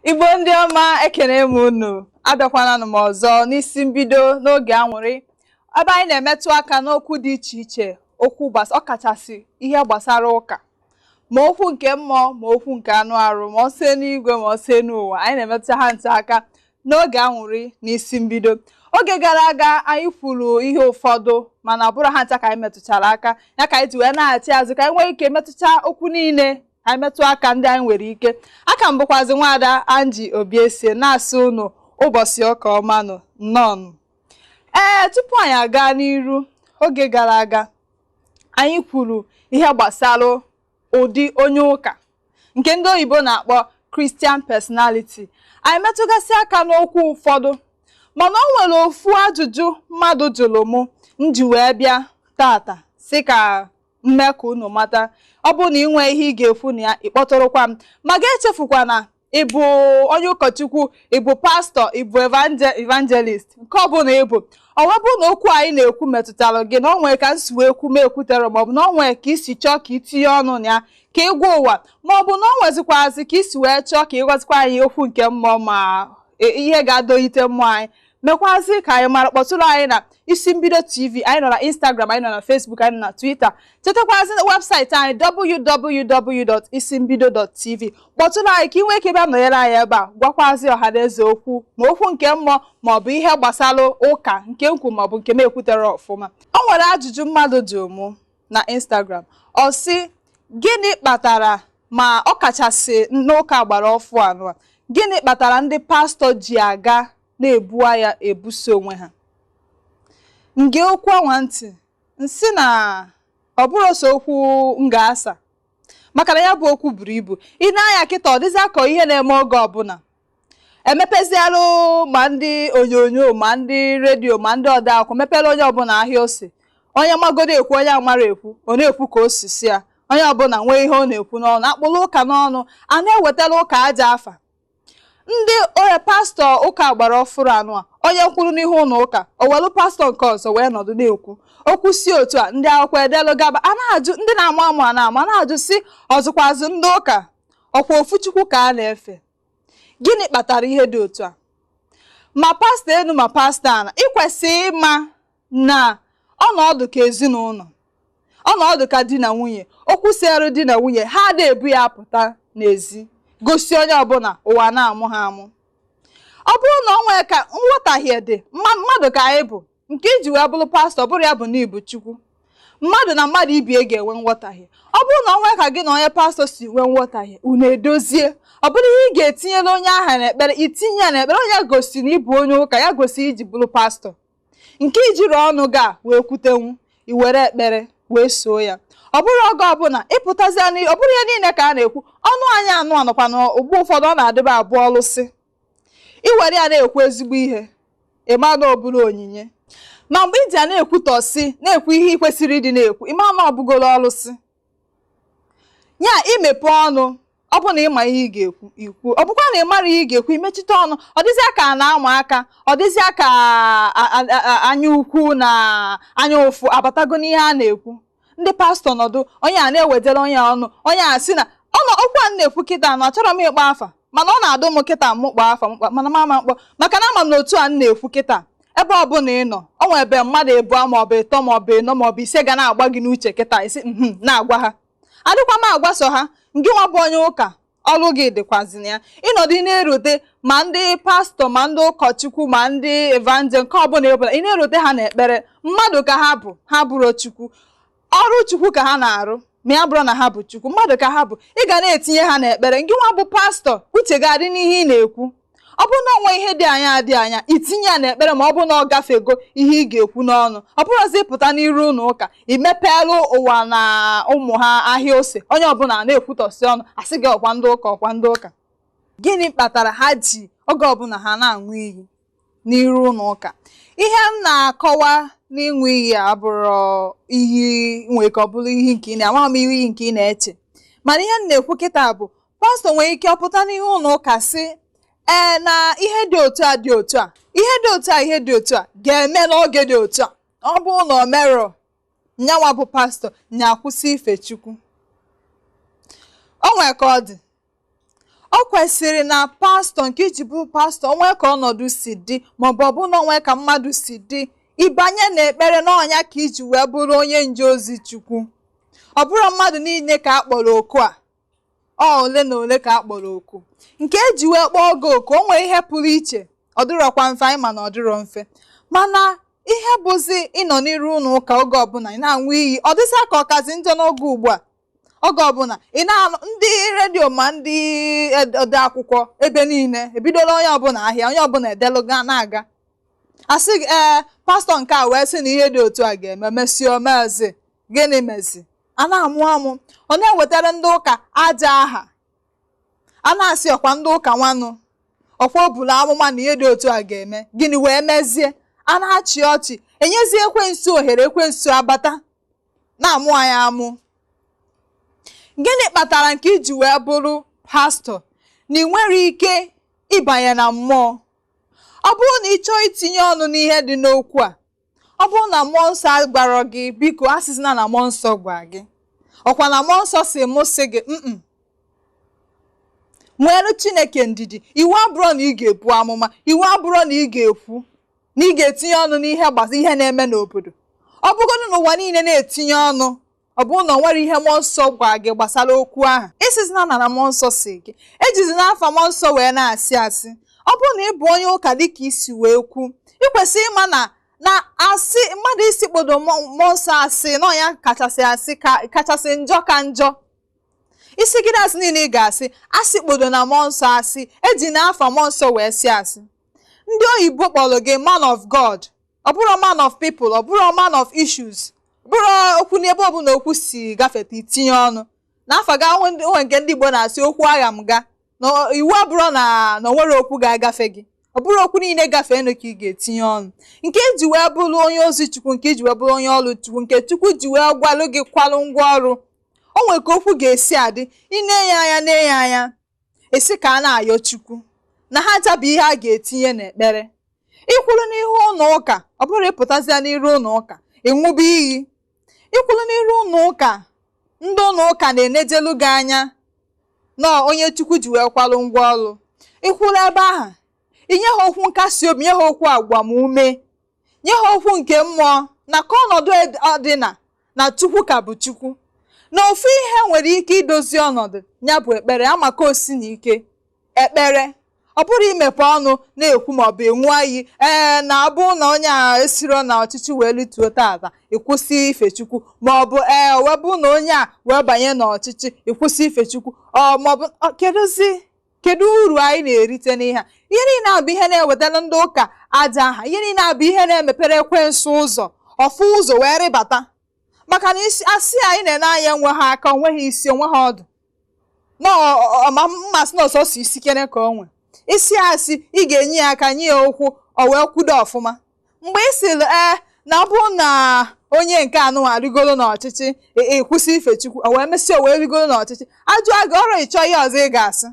igbo ndị ọma ekene m unu abịakwananụ m ọzọ n'isi mbido n'oge anwụrị ebe anyị na-emetụ aka n'okwu dị iche iche okwu ọkachasị ihe gbasara ụka ma okwu nke mmụọ ma okwu nke anụ arụ ma ọsọ n'igwe ma ọsọ n'ụwa anyị na-emetụ ha ncha aka n'oge anwụrị n'isi mbido oge gara aga anyị kwuru ihe ụfọdụ mana ọ bụrọ ha ncha ka anyị metụchara aka ya ka anyị ji wee nachi azụ ka anyị nwee ike metụta okwu niile anyị metụ aka ndị anyị nwere ike afa m bụkwazi nwaada Angie Obiesie na-asị unu ụbọchị ụka ọma nụ nnọọ nụ. ee tupu anyị aga n'iru oge gara aga anyị kwuru ihe gbasara ụdị onye ụka nke ndị oyibo na-akpọ Christian personality anyị metụgasị aka n'okwu ụfọdụ mana o nwere ofu ajụjụ mmadụ jụrụ mụ m ji wee bịa tata sị ka m mee ka unu mata ọ bụrụ na ị nwee ihe ị ga-ekwu na ya ị kpọtụrụkwa m ma gị echefukwana ị bụ onye ụkọchukwu ị bụ pastọ ị bụ evangelist nke ọ bụla ị bụ ọ wee bụrụ na okwu anyị na-ekwu metụtara gị na o nwee ka m si wee kwu m ekwuterọ maọbụ na o nwee ka i si chọọ ka i tinye ọnụ na ya ka ị gwa ụwa maọbụ na o nwezikwazi ka i si wee chọọ ka ị gwazikwa anyị okwu nke mmụọ ma e, ihe ga-adọlite mmụọ anyị mekwazị ka anyị mara kpọtụrụ anyị na isi mbido tv anyị nọ na instagram anyị nọ na facebook anyị nọ na twitter chetakwazi website anyị www.isimbido.tv kpọtụrụ anyị ka ị nwee ike bịa nọnyere anyị ebe a gwakwazi ọha na eze okwu ma okwu nke mmụọ ma ọ bụ ihe gbasara ụka nke m kwu ma ọ bụ nke m ekwuterọ ọfụma o nwere ajụjụ mmadụ jụrụ mụ na instagram ọ sị gịnị kpatara ma ọ kachasị n'ụka agbara ọfụụ anwa gịnị kpatara ndị pastọ ji aga na-ebu agha ebuso onwe ha m gee okwu anwa ntị m sị na ọ bụrọ sọ okwu m ga-asa maka na ya bụ okwu buru ibu i nee anya kịta ọ dịzị ka ọ ihe na-eme oge ọbụla emepezialụ ma ndị onyonyo ma ndị redio ma ndị ode akwụkwọ mepere onye ọbụla ahịa ose onye magodu ekwu onye amarọ ekwu ọ na-ekwu ka o si sọ ya onye ọbụla nwee ihe ọ na-ekwu n'ọnụ a kpụrụ ụka n'ọnụ a na-ewetara ụka ajọ afa ndị onye pastọ ụka agbara ọfụrụ anwa onye kwụrụ n'ihu ụlọ ụka o welu pastọ nke ọzọ wee nọdụ na-ekwu okwu si otu a ndị akwụkwọ edelụ gaba a na-ajụ ndị na-amụ amụ a na-amụ a na-ajụ sị ọzụkwazụ ndị ụka ọ kwa ofu chukwu ka a na-efe gịnị kpatara ihe dị otu a ma pastọ enu ma pastọ ana i kwesị ịma na unu dị ka ezinụlọ unu dị ka di na nwunye okwu seere di na nwunye ha ada ebu ya apụta n'ezi gosi onye ọbụla ụwa na-amụ ha amụ ọ bụrụ na o nwee ka nghọtahie dị mmadụ ka anyị bụ nke iji wee bụrụ pastọ abụrọ ya bụ na ị bụ chukwu mmadụ na mmadụ ibie ga-enwe nghọtahie ọ bụrụ na o nwe ka gị na onye pastọ si nwee nghọtahie unu edozie ọ bụrụ ihe ị ga-etinyere onye aha n'ekpere itinye ya n'ekpere ọ nya gosiri na ị bụ onye ụka ya gosiri iji bụrụ pastọ nke ijiri ọnụ ga wee kwutenwu iwere ekpere wee soo ya ọ bụrọ oge ọbụla ịpụtazi ọ bụrọ ihe niile ka a na-ekwu ọnụ anyị anụ anọkwa na ugbo ụfọdụ ọ na-adịba abụ ọlụsị i were ya na-ekwu ezigbo ihe ị ma na ọ bụrụ onyinye ma mgbe iji ya na-ekwutọsị na-ekwu ihe ị kwesịrọ ịdị na-ekwu ị ma na ọ bụgoro ọlụsị ya imepe ọnụ ọ bụ na ịma ihe ị ga-ekwu ikwu ọ bụkwa na ị marọ ihe ị ga-ekwu imechite ọnụ ọ dịzịa ka a na-ama aka ọ dịzịa ka a- a- a- a- anya ukwu na anya ụfụ abatago n'ihe a na-ekwu ndị pastọ nọdụ onye a na-ewedere onye ọnụ onye a sị na okwu a na-ekwu kịta na achọrọ m ịkpọ afa mana ọ na-adụ m kịta m kpọọ afa mkpa mana m ama m kpọ maka na ama m na otu a na-ekwu kịta ebe ọbụla ị nọ o nwere ebe mmadụ ebua maọbụ ịtọ maọbụ ịnọ maọbụ ise ga na-agba gị n'uche kịta ị sị na-agwa ha adịkwa m agwa sọ ha ngị nwa bụ onye ụka ọrụ gị dịkwazị na ya ịnọdụ na-erote ma ndị pastọ ma ndị ụkọchukwu ma ndị evanjel nke ọbụla ịbụla ị na-erote ha n'ekpere mmadụ ka ha bụ ha abụrọ chukwu ọrụ chukwu ka ha na-arụ ma ya abụrọ na ha bụ chukwu mmadụ ka ha bụ ị ga na-etinye ha n'ekpere ngị nwa bụ pastọ uche ga-adị n'ihe ị na-ekwu ọ bụrụ na o nwe ihe dị anya dị anya itinye ya n'ekpere ma ọ bụrụ na ọ gafego ihe ị ga-ekwu n'ọnụ ọ bụrọzi ịpụta n'iru ụlọ ụka imepeelụ ụwa na ụmụ ha ahịa ose onye ọbụla na-ekwutọsi ọnụ asị gị ọkwa ndị ụka ọkwa ndị ụka gịnị kpatara ha ji oge ọbụla ha na-aṅụ iyi n'iru ụlọ ụka ihe m na-akọwa n'ịṅụ iyi abụrọ iyi nwere ka ọ bụrọ iyi nke ị na- amaghị m iyi nke ị na-eche mana ihe m na-ekwu kịta bụ pastọ nwere ike ọ pụta n'ihu ụlọ ụka sị ee na ihe dị otu a dị otu a ihe dị otu a ihe dị otu a ga-eme n'oge dị otu a ọ bụ na o merọ nya nwa bụ pastọ nya akwụsị ife chukwu o nwere ka ọ dị ọ kwesịrị na pastọ nke iji bụ pastọ o nwe ka ọnọdụ si dị maọbụ ọ bụ na o nwe ka mmadụ si dị ịbanye n'ekpere na ọ nya ka iji wee bụrụ onye nje ozi chukwu ọ bụrọ mmadụ niile ka a kpọrọ oku a ọ ole na ole ka a kpọrọ oku nke eji wee kpọọ gị oku o nwere ihe pụrụ iche ọ dịrọkwa mfe anyị ma na ọ dịrọ mfe mana ihe bụzi ịnọ n'iru ụlọ ụka oge ọbụla ị na-aṅụ iyi ọ dịzịa ka ọ kazi njọ n'oge ugbu a oge ọbụla ị na-anụ ndị redio ma ndị ed- ode akwụkwọ ebe niile ebidola onye ọbụla ahịa onye ọbụla edeluga na-aga asị gị ee pastọ nke a wee sị na ihe dị otu a ga-eme mesịa o mezi gịnị mezi a na-amụ amụ ọ na-ewetara ndị ụka ajọ aha a na-asị ọkwa ndị ụka nwanụ ọkwa o buru amụma na ihe dị otu a ga-eme gịnị wee mezie a na-achị ọchị enyezie ekwensu ohere ekwensu abata na-amụ anyị amụ gịnị kpatara nke iji wee bụrụ pastọ na ị nwere ike ịbanye na mmụọ ọ bụrụ na ị chọọ itinye ọnụ n'ihe dị n'okwu a ọ bụrụ na mmụọ nsọ agwarọ gị biko asịzina na mmụọ nsọ gwa gị ọkwa na mmụọ nsọ sị mụ sị gị mm nwere chineke ndidi iwu abụrọ na ị ga-ebu amụma iwu abụrọ na ị ga-ekwu na ị ga-etinye ọnụ n'ihe gbasa ihe na-eme n'obodo ọ bụgodị na ụwa niile na-etinye ọnụ ọ bụrụ na o nwerọ ihe mmụọ nsọ gwa gị gbasara okwu ahụ ịsịzina na na mmụọ nsọ sị gị ejizina afa mmụọ nsọ wee na-asị asị ọ bụrụ na ị bụ onye ụka dịka i si wee kwu ị kwesịrị ịma na na asị mmadụ ịsịkpodo mmụọ nsọ asị na ọ nya kachasị asị kachasị njọ ka njọ ị sịgide asị niile ị ga-asị asịkpodona mmụọ nsọ asị ejina afa mmụọ nsọ wee sị asị ndị oyibo kpọrọ gị man of God ọ bụrọ man of people ọ bụrọ man of issues bụrụ okwu n'ebe ọbụla okwu si gafeta i tinye ọnụ n'afa ga onwe nke ndị Igbo na-asị okwu agha m ga na iwu abụrọ na na o nwere okwu ga-agafe gị ọ bụrọ okwu niile gafee nụ ka ị ga-etinye ọnụ nke iji wee bụrụ onye ozi chukwu nke iji wee bụrụ onye ọrụ chukwu nke chukwu ji wee gwalụ gị kwalụ ngwa ọrụ o nwere ka okwu ga-esi adị ị na-ene anya na-ene anya ị sị ka a na-ayọ Chukwu na ha ncha bụ ihe a ga-etinye n'ekpere ị kwụrụ n'ihu ụlọ ụka ọ bụrọ ị pụtazịa n'iru ụlọ ụka ị ṅụba iyi ị kwụrụ n'iru ụlọ ụka ndị ụlọ ụka na-enejelu gị anya na ọ onye Chukwu ji wee kwalụ ngwa ọrụ ị kwụrụ ebe ahụ i nye ha okwu nkasi obi nye ha okwu agbamume nye ha okwu nke mmụọ na ka ọnọdụ dịna na chukwu ka bụ chukwu na ofu ihe nwere ike idozi ọnọdụ ya bụ ekpere amaka osi na ike ekpere ọ bụrọ i mepe ọnụ na-ekwu maọbụ aṅụ iyi ee na abụ na onye a esiro na ọchịchị wee lituo tata ị kwụsị ife chukwu maọbụ ee webụ na onye a wee banye n'ọchịchị ị kwụsị ife chukwu ọ maọbụ kedụzi kedu uru anyị na-erite n'ihe a ihe niile a bụ ihe na-ewetara ndị ụka ajọ aha ihe niile a bụ ihe na-emepere ekwensu ụzọ ọ fụ ụzọ wee rịbata maka na ịsị asị anyị na-ene anya enweha aka o nweha isi o nweha ọdụ na mmasị na ọ sọsọ isi kere ka o nwe ị sị asị ị ga-enye ya aka nye ya ụkwụ o wee kwudo ọfụma mgbe ị sịrị ee na ọ bụrụ na onye nke anụnwa rigoro n'ọchịchị ị- ị kwụsị ife chukwu o wee mesịa o wee rigoro n'ọchịchị a jụọ gị ọrụ ị chọọ ihe ọzọ ị ga-asị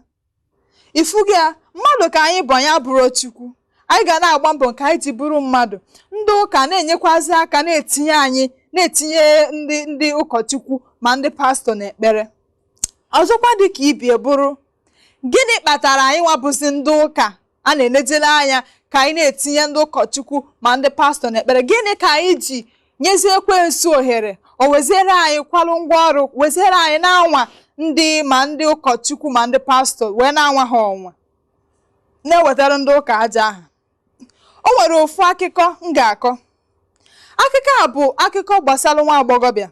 ị fugo ya mmadụ ka anyị bụ anyị abụrọ chukwu anyị ga na-agba mbọ nke anyị ji bụrụ mmadụ ndị ụka na-enyekwazi aka na-etinye anyị na-etinye ndị ndị ụkọchukwu ma ndị pastọ n'ekpere ọzọkwa dị ka ibie bụrụ gịnị kpatara anyị nwabụzi ndị ụka a na-enejere anya ka anyị na-etinye ndị ụkọchukwu ma ndị pastọ n'ekpere gịnị ka anyị ji nyezie ekwensu ohere o weziere anyị kwalụ ngwa ọrụ weziere anyị na-anwa ndị ma ndị ụkọchukwu ma ndị pastọ wee na-anwa ha ọnwa na-ewetara ndị ụka ajọ aha o nwere ofu akụkọ m ga-akọ akụkọ a bụ akụkọ gbasara nwa agbọghọbịa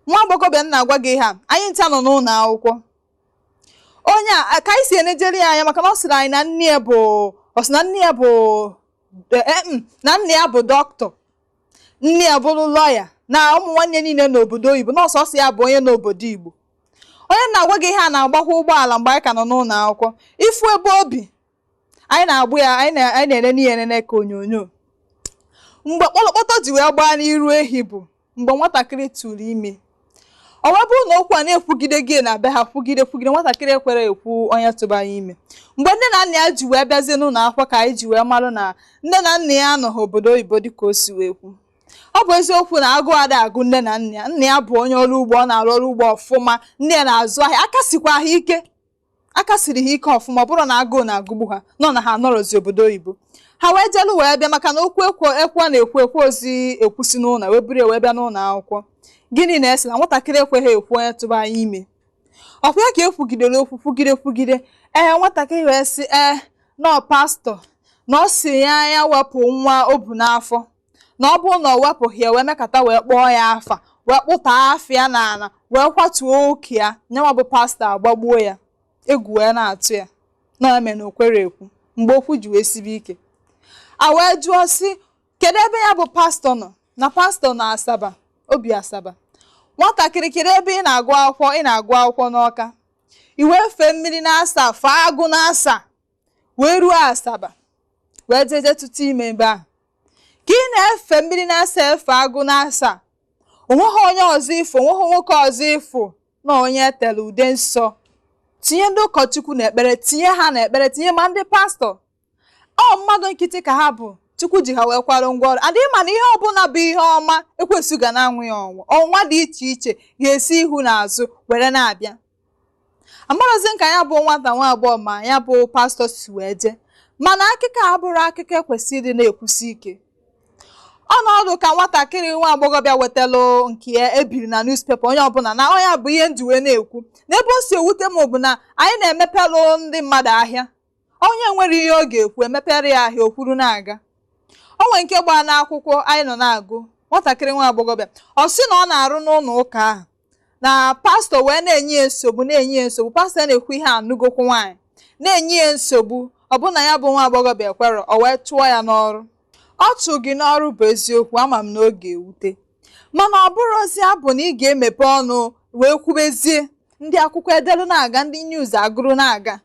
nwa agbọghọbịa m na-agwa gị ihe a anyị ncha nọ n'ụlọ akwụkwọ o nwee ka anyị si enejere ya anya maka na ọ sịrị anyị na nne ya bụ ọ sị na nne ya bụ eh, eh, mm, na nne ya bụ doctor nna ya bụrụ lọya na ụmụ nwanne ya niile nọ obodo oyibo na ọ sọsọ ya bụ onye nọ obodo igbo onye m na-agwa gị ihe a na-agbakwa ụgbọala mgbe anyị ka nọ n'ụlọ akwụkwọ ị fụ ebe o bi anyị na-agbụ ya anyị na- anyị na-enene ya enene ka onyonyo mgbe kpọlọkpọtọ ji wee gbaa n'iru ehi bụ mgbe nwatakịrị tụrụ ime ọ wee bụrụ na okwu a na-ekwugide gị na be ha kwugide kwugide nwatakịrị ekwere ekwu onye tụba ya ime mgbe nne na nna ya ji wee bịazie n'ụlọ akwụkwọ ka anyị ji wee marụ na nne na nna ya anọghị obodo oyibo dịka o si wee kwu ọ bụ eziokwu na agụụ ada agụ nne na nna ya nna ya bụ onye ọrụ ugbo ọ na-arụ ọrụ ugbo ọfụma nne ya na-azụ ahịa aka sikwa ha ike aka siri ha ike ọfụma ọ bụrọ na agụụ na-agụgbu ha mana ha anọrọzi obodo oyibo ha wee jelu wee bịa maka na okwu ekwe- okwu a na-ekwu ekwerọzi ekwusi n'ụlọ wee buru ya wee bịa n'ụlọ akwụkwọ gịnị na-ese na nwatakịrị ekweghị ekwu onye tụba ya ime ọ kwa ya ka e kwugidere okwu kwugide kwugide ee nwatakịrị wee sị ee na ọ pastọ na ọ sị ya ya wepụ nwa o bu n'afọ na ọ bụrụ na o wepụghị ya wee mekata wee kpọọ ya afa wee kpụtọ afa ya n'ala wee kwatuo ụka ya nyanwa bụ pastọ agbagbuo ya egwu wee na-atụ ya nya mee na o kwerọ ekwu mgbe okwu ji wee sibe ike a wee jụọ sị kedu ebe ya bụ pastọ nọ na pastọ nọ asaba o bi asaba nwatakịrị kedu ebe ị na-agụ akwụkwọ ị na-agụ akwụkwọ n'ọka i wee fee mmiri n'asaa fee agụ n'asaa wee ruo asaba wee jee je tụta ime ebe ahụ ka ị na-efe mmiri n'asaa efe agụ n'asaa o nweghị onye ọzọ ị fụ o nweghị nwoke ọzọ ị fụ na onye e tere ude nsọ tinye ndị ụkọchukwu n'ekpere tinye ha n'ekpere tinye ma ndị pastọ ọ mmadụ nkịtị ka ha bụ chukwu ji ha wee kwara ngwa ọrụ anyị ma na ihe ọbụla bụ ihe ọma ekwensu ga na-anwa ya ọnwa ọnwa dị iche iche ga-esi ihu na azụ were na-abịa amarọzi m ka ya bụ nwata nwa agbọghọ ma ya bụ pastọ si wee jee mana akụkọ a abụrọ akụkọ e kwesịrị ịdị na-ekwusi ike ọnọdụ ka nwatakịrị nwa agbọghọbịa wetalụ nke ya e biri na newspaper onye ọbụla na ọ ya bụ ihe m ji wee na-ekwu na ebe o si ewute m bụ na anyị na-emepelụ ndị mmadụ ahịa onye nwere ihe ọ ga-ekwu e mepere ya ahịa o kwuru na-aga o nwere nke gbaa n'akwụkwọ anyị nọ na-agụ nwatakịrị nwa agbọghọbịa ọ sị na ọ na-arụ n'ụlọ ụka ahụ na pastọ wee na-enye ya nsogbu na-enye ya nsogbu pastọ na-ekwu ihe anụgokwu nwaanyị na-enye ya nsogbu ọ bụ na ya bụ nwa agbọghọbịa ekwerọ o wee chụọ ya n'ọrụ ọ chụọ gị n'ọrụ bụ eziokwu ama m na ọ ga-ewute mana ọ bụrọzi ya bụ na ị ga-emepe ọnụ wee kwubezie ndị akwụkwọ edelu na-aga ndị news agụrụ na-aga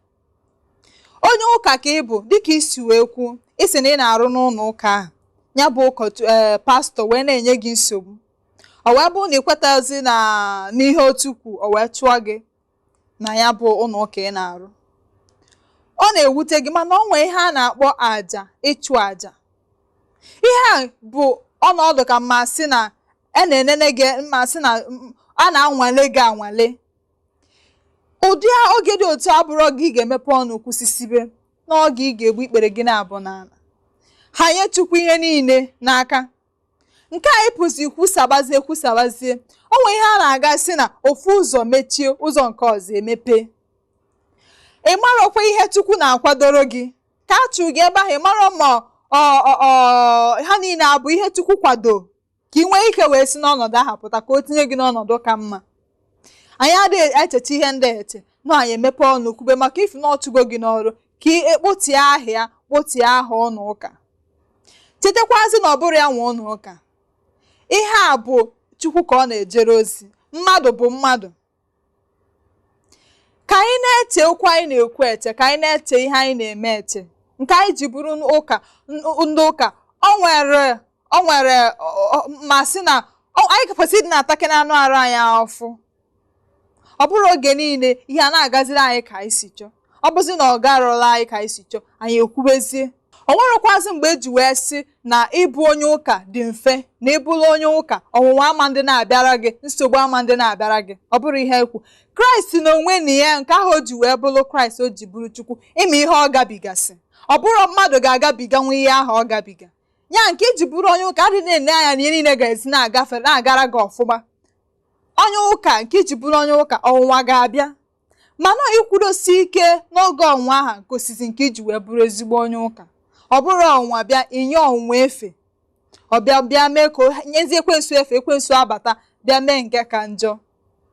onye ụka ka ị bụ dịka i si wee kwu ị sị na ị na-arụ n'ụlọ ụka ahụ ya bụ ụkọchukwu ee eh, pastọ wee na-enye gị nsogbu ọ wee bụrụ na ị kwetazi na n'ihe otu kwu ọ wee chụọ gị na ya bụ ụlọ ụka ị na-arụ ọ na-ewute gị mana ọ nwee ihe a na-akpọ aja ịchụ aja ihe a bụ ọnọdụ ka m ma-asị na a na-enene gị m ma-asị na a na-anwale gị anwale ụdị oge dị otu a abụrọ oge ị ga-emepe ọnụ kwusisibe n'oge ị ga-egbu ikpere gị naabọ n'ala hanye chukwu ihe niile n'aka nke a ịpụzi kwusabazie kwusabazie o nwere ihe a na-aga sị na ofu ụzọ mechie ụzọ nke ọzọ emepe ị marọkwa ihe chukwu na-akwadoro gị ka a chụ gị ebe ahụ ị marọ ma ha niile abụ ihe chukwu kwado ka ị nwee ike wee si n'ọnọdụ ahụ pụta ka o tinye gị n'ọnọdụ ka mma anyị adịghị echecha ihe ndị a eche na anyị emepe ọnụ kwube maka ị fụ na ọ chụgo gị n'ọrụ ka ị kpotie aha ya kpotie aha ụnọ ụka chetakwazi na ọ bụrọ ya nwe ụnọ ụka ihe a bụ chukwu ka ọ na-ejere ozi mmadụ bụ mmadụ ka anyị na-eche okwu anyị na-ekwu eche ka anyị na-eche ihe anyị na-eme eche nke anyị ji bụrụ ụka ndị ụka ọ nwere ọ nwere m ma-asị na anyị kwesịrị ịdị na-atake na anụ arụ anyị afụfụ ọ bụrọ oge niile ihe a na-agaziri anyị ka anyị si chọọ ọ bụzi na ọ garọlụ anyị ka anyị si chọọ anyị ekwubezie o nwerọkwazị mgbe e ji wee sị na ịbụ onye ụka dị mfe na ị bụlụ onye ụka ọnwụnwa ama adị na-abịara gị nsogbu ama adị na-abịara gị ọ bụrọ ihe e kwu kraịst na onwe na ya nke ahụ o ji wee bụrụ kraịst o ji bụrụ chukwu ị ma ihe ọ gabigasị ọ bụrọ mmadụ ga-agabiganwu ihe ahụ ọ gabiga ya nke i ji bụrụ onye ụka adịna ele anya na ihe niile ga-esi na-agafe na-agara gị ọfụma onye ụka nke i ji bụrụ onye ụka ọnwụnwa ga-abịa mana ikwudosi ike n'oge ọnwụnwa ahụ gosizi nke i ji wee bụrụ ezigbo onye ụka ọ bụrọ ọnwụnwa bịa i nye ọnwụnwa efe ọ bịa bịa mee ka nyezie ekwensu efe ekwensu abata bịa mee nke ka njọ